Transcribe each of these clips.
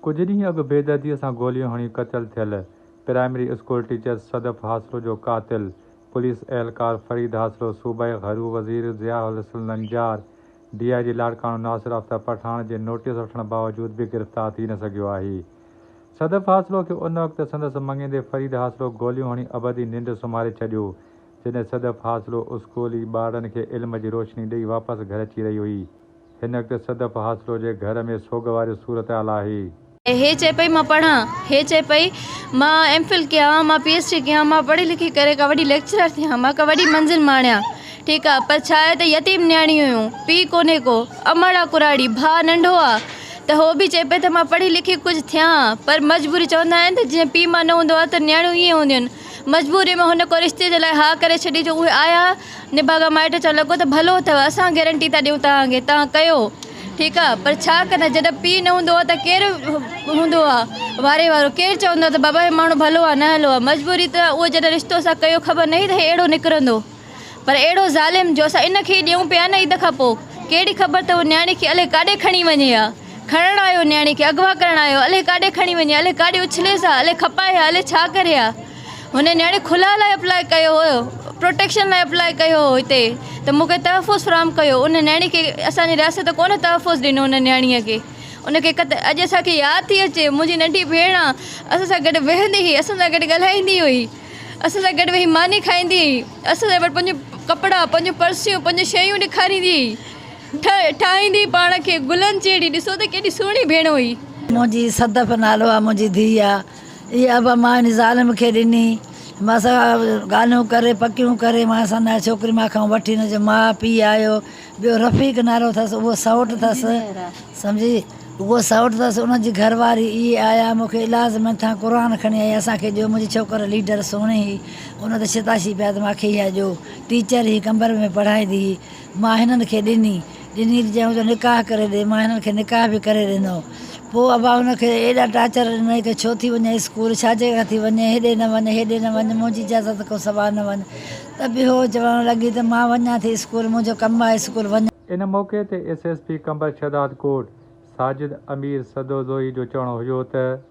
ڪجهه ڏينهن اڳ بيدرديء سان گوليون هڻي قتل ٿيل primary school teacher Sadaf Hasro جو قاتل پوليس اهلڪار فريد هاسرو، صوبائي گهرو وزير Zia ul Hassan Lanjar, D I G Larkana Nasir Aftab Pathan جي نوٽيس وٺڻ باوجود به گرفتار ٿي نه سگهيو آهي. صدف هاسرو کي ان وقت سندس مڱيندي فريد هاسرو گوليون هڻي ابدي ننڊ سمهاري ڇڏيو، جڏهن صدف هاسرو اسڪولي ٻارڙن کي علم جي روشني ڏئي واپس گهر اچي رهي هئي. هن وقت صدف حاصلو جي گهر ۾ سوڳ واري صورتحال آهي. هيء چئي پئي مان پڙهان، هيء چئي پئي مان ايم فل ڪيان، مان پي ايڇ ڊي ڪيان، مان پڙهي لکي ڪري ڪا وڏي ليڪچرر ٿيان، مان ڪا وڏي منزل ماڻيان. ٺيڪ آ، پر ڇا آهي ته يتيم نياڻيون هيون، پيء ڪونهي ڪو، امڙا ڪراڙي، ڀاء ننڍو آ، ته هوء به چئي پئي ته مان پڙهي لکي ڪجهه ٿيان ها، پر مجبوري چوندا آهن ته جيئن پيء ماء نه هوندو آ ته نياڻيون ائين هونديون آهن. مجبوريء ۾ هن ڪو رشتي جي لاء ها ڪري ڇڏي جو اهي آيا، نڀاڳا مائٽ چوڻ لڳو ته ڀلو اٿئو، اسان گيرنٽي ٿا ڏيون توهان کي، توهان ڪيو، ٺيڪ آ، پر ڇا ڪندا، جڏهن پيء نه هوندو آ ته ڪير هوندو آ واري وارو، ڪير چوندو آ ته بابا هي ماڻهو ڀلو آ، نه هلو آ، مجبوري ته اهو جڏهن رشتو اسان ڪيو خبر ناهي ته هي اهڙو نڪرندو، پر اهڙو ظالم جو اسان ان کي ئي ڏيون پيا نه عيد کان پوء، ڪهڙي خبر ته اهو نياڻي کي الئي ڪاڏي کڻي وڃي ها، کڻڻ آيو نياڻي کي، اغوا ڪرڻ آيو، الئي ڪاڏي کڻي وڃي ها، الئي ڪاڏي اڇليس ها، الئي کپائي ها، الئي ڇا ڪري ها. هن نيڻي خلا لاء اپلاء ڪيو هو پروٽيڪشن لاء اپلاء ڪيو هو هتي ته مون کي تحفظ فراهم ڪيو ان نيڻي کي اسان جي رياست ڪونه تحفظ ڏنو ان نيڻي کي ان کي قتل اڄ اسان کي ياد ٿي اچي منهنجي ننڍي ڀيڻ آ اسان سان گڏ ويهندي هئي اسان سان گڏ ڳالهائيندي هئي اسان سان گڏ ويهي ماني کائيندي هئي اسان سان گڏ پنهنجو ڪپڙا پنهنجو پرسيون پنهنجو شيون ڏيکاريندي هئي ٺهي ٺاهيندي پاڻ کي گلن جهڙي ڏسو ته ڪيڏي سهڻي ڀيڻ هئي. منهنجي صدف نالو آ منهنجي ڌيء آ. اهي ابا مان هن ظالم کي ڏني. مان سان ڳالهيون ڪري پڪيون ڪري مان سان نيا ڇوڪري مان کان وٺي هن جو ماء پيء آيو ٻيو رفيق نالو اٿس اهو سئوٽ اٿس سمجهي اهو سئوٽ اٿس ان جي گهر واري اهي آيا مون کي الاز من ٿان قرآن کڻي آئي اسان کي ڏيو منهنجي ڇوڪر ليڊر سهڻي هئي ان ته شتاشي پيا ته مان کي اها ڏيو ٽيچر هئي قمبر ۾ پڙهائيندي هئي ماهينن کي ڏني. ڏني ته چيائون ته نڪاح ڪري ڏي. ماهينن کي نڪاح به ڪري ڏنو. پوء ابا ان کي ايڏا ٽارچر ڏنائين ته ڇو ٿي وڃين اسڪول، ڇاجي ڪري ٿي وڃين، هيڏي نه وڃ، هيڏي نه وڃ، منهنجي اجازت کان سواء نه وڃ. ته به هوء چوڻ لڳي ته مان وڃان ٿي اسڪول، منهنجو ڪم آهي اسڪول وڃڻ. ان موقعي تي S S P Qambar Shahdadkot Sajid Amir Sadozai جو چوڻ هيو ته.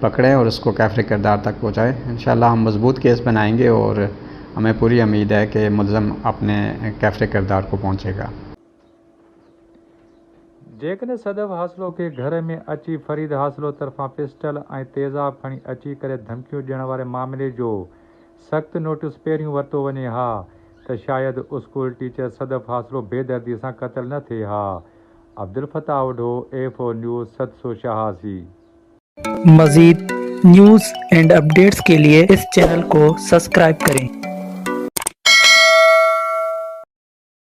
پڪڙي اور اسڪو ڪيفري ڪردار تڪ پهچائي انشاء الله هم مضبوط ڪيس بنائينگي اور همين پوري اميد هي ڪي ملزم اپني ڪيفري ڪردار ڪو پهچي گا. جيڪڏهن صدف حاصلو کي گهر ۾ اچي فريد حاصلو طرفان پسٽل ۽ تيزاب کڻي اچي ڪري ڌمڪيون ڏيڻ واري معاملي جو سخت نوٽيس پهريون ورتو وڃي ها ته شايد اسڪول ٽيچر صدف حاصلو بي دردي سان قتل نه ٿئي ها Abdel Fattah Odho, F O news, سدسو شاهاسي. مزيد نيوز اينڊ اپڊيٽس ڪي لئي اس چينل ڪو سسڪرائب ڪرين.